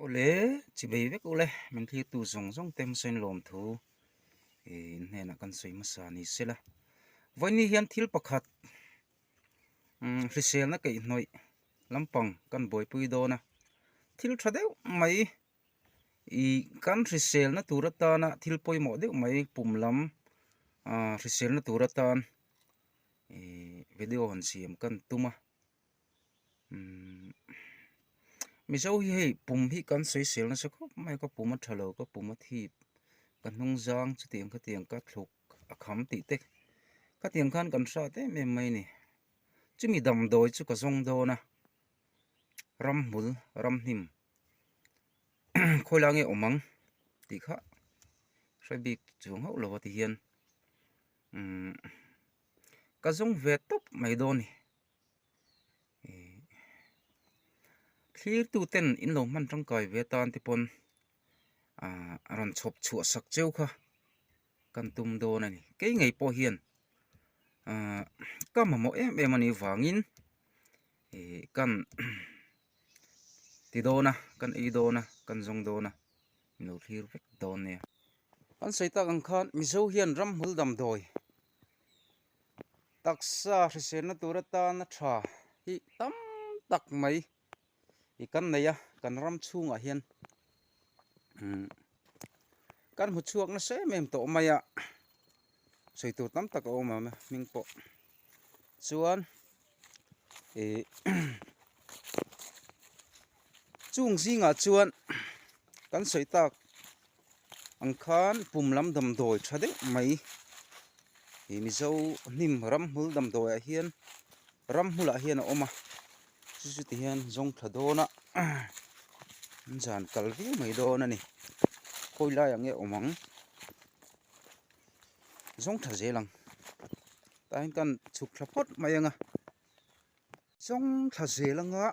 Awle, chi vei vek u le, min thlirtu zawng zawng te hmasa in lawm thu in hnenah kan sawi hmasa ni se la, vawiin hian thil pakhat hriselna keihnawih lampang kan buaipui dawn a, thil tha deuh mai kan hriselna tur atana thil pawimawh deuh mai pum lam hriselna tur atan video han siam kan tum a. Mizo hi hei pum hi kan soisel nasa khawp mai ka pum a tha lo ka pum a thip ka hnung zang chutiang khatiang ka thluk a kham tih te khatiang khan kan hriat em em mai a ni chumi damdawi chu ka zawng dawn a ramhmul ramhnim khawilâng nge awm ang tih kha hre bik chuang hauh lo a tihian ka zawng ve tawp mai dawn a ni. thlir tu ten in lo hman tangkai ve atan te pawn ah a rawn chhawp chhuah sak cheu kha kan tum dawn a ni kei ngei pawh hian ah ka mamawh em em a nih vangin ih kan ti dawn a kan ei dawn a kan zawng dawn a in lo thlir vek dawn nia kan sawi tak ang khan mizo hian ramhmul damdawi. Taksa hriselna tur atan a tha hi tam tak mai i kan nei a, kan ram chhungah hian kan hmu chhuak nasa em em tawh mai a, sawi tur tam tak a awm ang a hming pawh chuan, eh chung zingah chuan kan sawi tak ang khan pum lam damdawi tha deuh mai ih mizo hnim ramhmul damdawi ah hian ramhmul ah hian a awm a chu chu ti hian zawng tha dawn a an zan kal viau mai dawn a ni khawi lai ang nge awm ang zawng tha zel ang. Tlaiin kan chhuk thla phawt mai anga chawng thla zel anga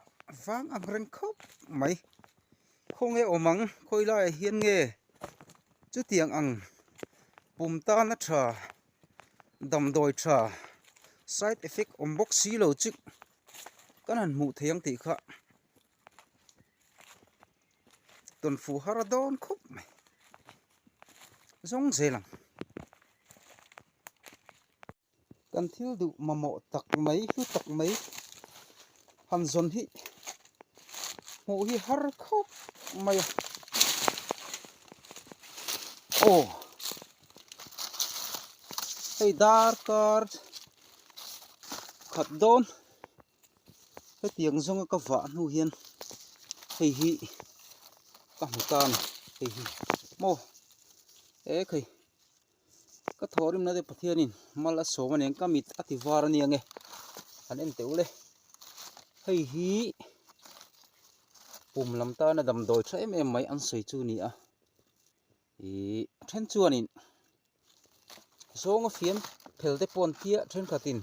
vang ang reng khawp mai khaw nge awm ang khawi laiah hian nge chutiang ang pum tana tha damdawi tha side effect awm bawk silo chu kan han hmuh theih ang tih kha. tawn fuh har a dawn khawp mai zawng zel ang kan thil duh mamawh tak mai hlu tak mai han zawn hi hmuh hi har khawp mai a aw hei darkar khat dawn Hetiang zawnga ka vah hnu hian hei hi ka hmu tan hei hi maw e khei ka thawh rim nate Pathianin mal a sawm a nen ka mit a ti var aniang e han en teuh le hei hi pum lam tana damdawi tha em em mai an sawi chu ni a. I then chuanin zawnga fiam phel te pawn tia thenkhatin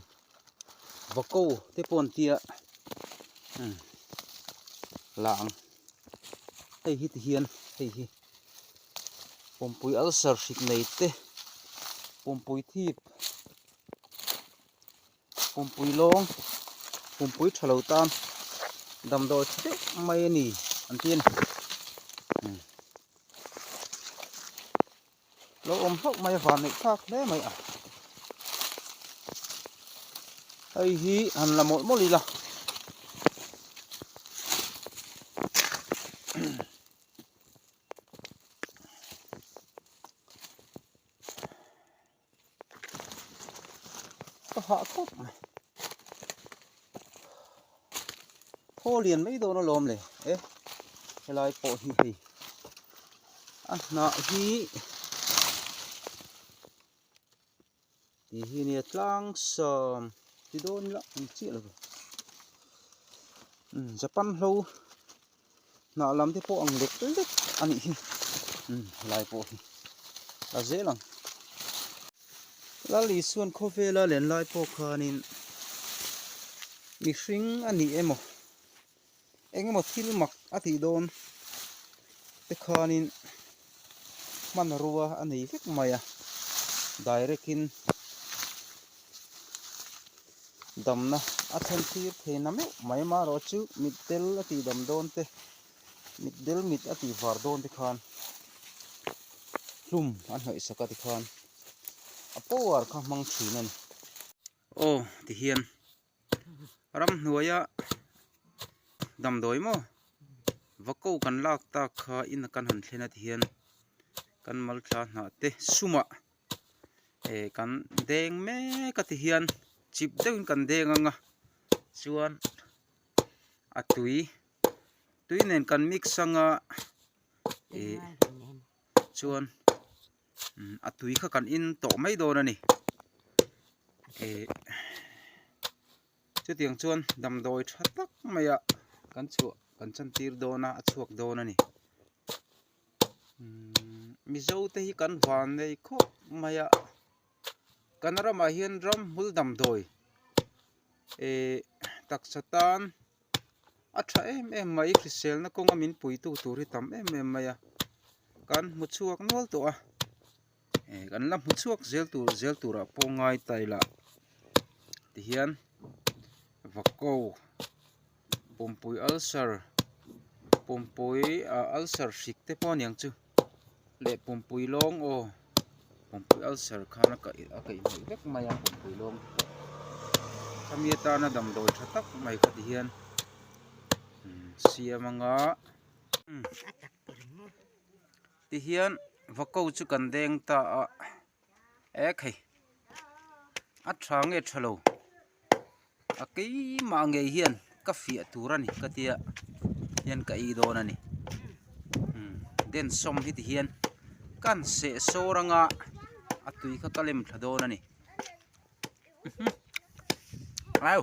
vako te pawn tia um la ang hei hi ti hian hei hi pumpui ulcer hrik nei te pumpui thip Pumpui lawng, pumpui tha lo tan damdawi tha deuh mai a ni ang chi a ni. Lo awm hlauh mai a van neih thlak hle mai a. Hei hi han la mawlh mawlh ila. Ka hah khawp mai. Thaw lian mai dawn alawm le. Eh, helai pawh hi hei. A hna hi ti hi nia tlang sam ti dawn ila an chiah lo. Japan hlo Hnah lam te pawh ang lek lek a nih hi. Um, helai pawh hi. A zel ang. Lal Isuan khawvela len lai pawh khanin mihring a nih emaw engemaw thil mak a tih dawn te khanin hmanrua a nei vek mai a, direct in damna a then thlir thei na meuh mai a, mah erawh chu mit del a tih dam dawn te, mit del mit a tih var dawn te khan hlum a hnawih sak a tikhan a power kha a hmang thin a ni. Aw tihian ram hnuaia damdawi maw va ko kan lak tak kha in a kan han thlen atih hian kan malthla hnah te sumah eh kan deng mek atih hian chip deuhin kan deng ang a chuan a tui tui nen kan mix anga eh chuan-- a tui kha kan in tawh mai dawn a ni eh chutiang chuan damdawi tha tak mai a kan chhuah kan chantir dawn a a chhuak dawn a ni mizo te hi kan van nei khawp mai a. Kan ramah hian ramhmul damdawi eeh taksa tan a tha em em mai hriselna kawnga min puitu tur hi tam em em mai a kan hmu chhuak nual tawh a eeh kan la hmu chhuak zel tur zel turah pawh ngai ta ila tihian vako. Pumpui ulcer, pumpui ah ulcer hrik te pawh aniang chu leh pumpui lawng aw pumpui ulcer khan a kaih a kaih hmel vek mai a pumpui lawng khami atana damdawi tha tak mai kha ti hian umm siam anga umm tihian va ko chu kan deng ta a. Ehh khay a tha nge tha lo a keimah ngei hian ka fiah tur a ni ka tia hian ka ei dawn a ni den sawm hi ti hian kan seh sawr anga a tui kha ka lem thla dawn a ni au.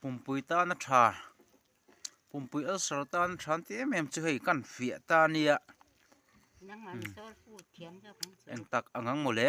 Pumpui tana tha, pumpui ulcer tana tha an tih em em chu hei ka han fiah ta nia, engtak ang ang mawle.